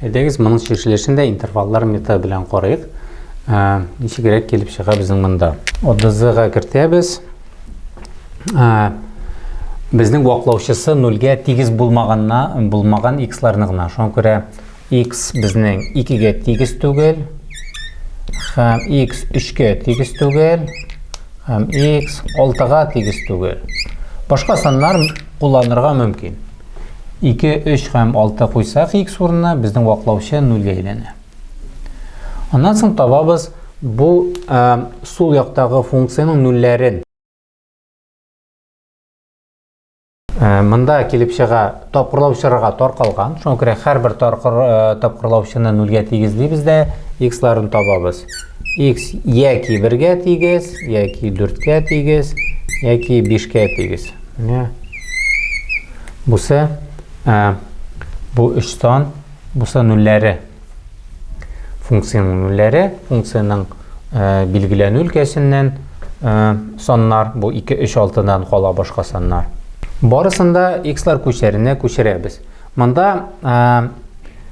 Әйдәгез, моның чишелешен дә интерваллар методы белән карыйк. Ә, ничегрәк килеп чыга безнең монда. ОДЗ-га кертәбез. Ә, безнең ваклаучысы нольгә тигез булмаганна, булмаган x-ларны гына. Шуңа күрә x безнең 2-гә тигез түгел, һәм x 3-гә тигез түгел, һәм x 6-га тигез түгел. Башка саннар кулланырга мөмкин. Ике, өч һәм алты куйсак икс урынына, безнең ваклаучы нульгә әйләнә. Аннан соң табабыз бу ә, сул яктагы функциянең нульләрен. Ә, монда килеп чыга тапкырлаучыларга таркалган. Шуңа күрә һәрбер таркыр, ә, тапкырлаучыны нульгә тигезлибез дә иксларын табабыз. Икс яки бергә тигез, яки дүрткә тигез, яки бишкә тигез. Менә бусы, ә, бу өч сан, бусы нулләре. Функцияның нулләре, функцияның ә, билгеләнү өлкәсеннән ә, саннар, бу 2, 3, 6-дан кала башка саннар. Барысында x-лар күчәренә күчерәбез. Монда ә,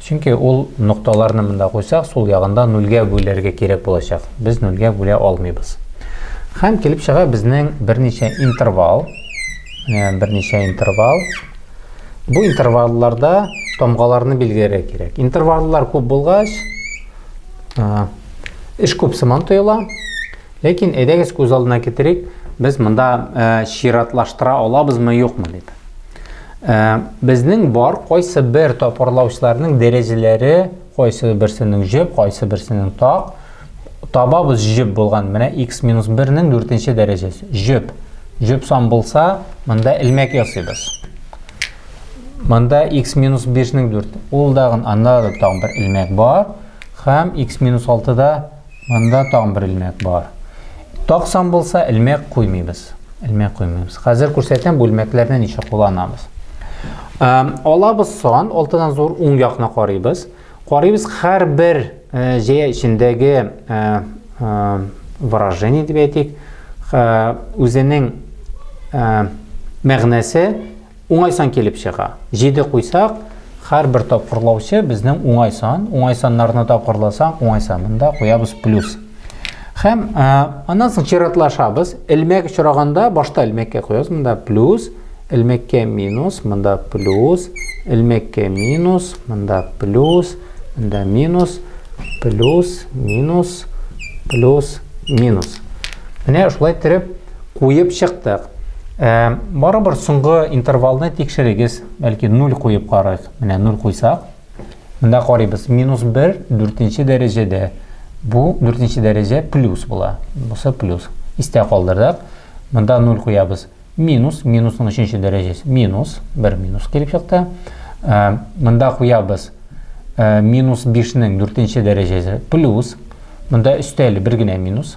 Чөнки ул нокталарны монда куйсак, сул ягында нульгә бүләргә кирәк булачак. Без нульгә бүлә алмыйбыз. Хәм килеп чыга безнең берничә интервал. Менә берничә интервал. Бу интервалларда тамгаларны билгеләргә кирәк. Интерваллар күп булгач, эш күп сыман тоела. Ләкин әйдәгез күз алдына китерик, без монда чиратлаштыра алабызмы, юкмы дип. Ә, безнең бар кайсы бер тапырлаучыларның дәрәҗәләре, кайсы берсенең җеп, кайсы берсенең так. Табабыз җеп булган. Менә x минус 1-нең 4-нче дәрәҗәсе. Җеп. Җеп сан булса, монда элмәк ясыйбыз. Монда x минус 5-нең 4. Ул дагын анда да тагын бер элмәк бар. Хәм x минус 6-да Монда тагын бер элмәк бар. Таксаң булса, элмәк куймыйбыз. Элмәк куймыйбыз. Хәзер күрсәтәм бу элмәкләрне ничек кулланабыз. Алабыз сан, алтыдан зур уң якны карыйбыз. Карыйбыз һәрбер җәя эчендәге выражение дип әйтик, үзенең мәгънәсе Уңай сан килеп чыга. Җиде куйсак, һәрбер тапкырлаучы безнең уңай сан, уңай саннарны тапкырласаң, уңай сан. Монда куябыз плюс. Һәм аннан соң чиратлашабыз. Элмәк очраганда башта элмәккә куябыз. Монда плюс, элмәккә минус, монда плюс, элмәккә минус, монда плюс, монда минус, плюс, минус, плюс, минус. Менә шулай иттереп Куеп чыктык. Ә, барыбер соңгы интервалны тикшерегез. Бәлки 0 куеп карыйк. Менә 0 куйсак. Монда карыйбыз. Минус 1 дүртенче дәрәҗәдә. Бу дүртенче дәрәҗә плюс була. Бусы плюс. Истә калдырдык. Монда 0 куябыз. Минус, минусның өченче дәрәҗәсе. Минус, 1 минус килеп чыкты. Ә, монда куябыз. Ә, минус 5-нең дүртенче дәрәҗәсе плюс. Монда өстәле бер генә минус.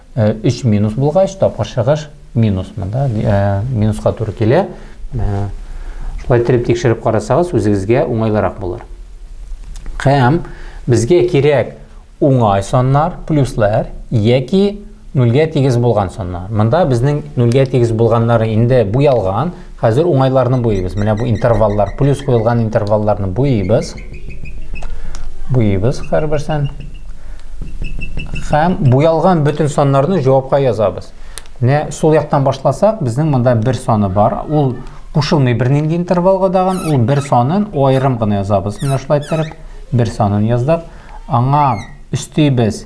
Э, өч минус булгач тапкыр чыгыш минус монда э, минуска туры килә э, шулай иттереп тикшереп карасагыз үзегезгә уңайлырак булыр һәм безгә кирәк уңай саннар плюслар яки нульгә тигез булган саннар монда безнең нульгә тигез булганнары инде буялган Хәзер уңайларны буйыйбыз. Менә бу интерваллар, плюс куелган интервалларны буйыйбыз. Буйыйбыз һәрберсен. Һәм буялган бөтен саннарны җавапка язабыз. Менә сул яктан башласак, безнең монда бер саны бар. Ул кушылмый бернинди интервалга дагын, ул бер санын аерым гына язабыз. Менә шулай иттереп бер санын яздык. Аңа өстибез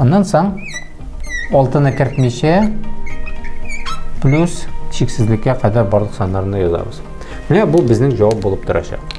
Аннан соң алтыны кертмичә плюс чиксезлеккә кадәр барлык саннарны язабыз. Менә бу безнең җавап булып торачак.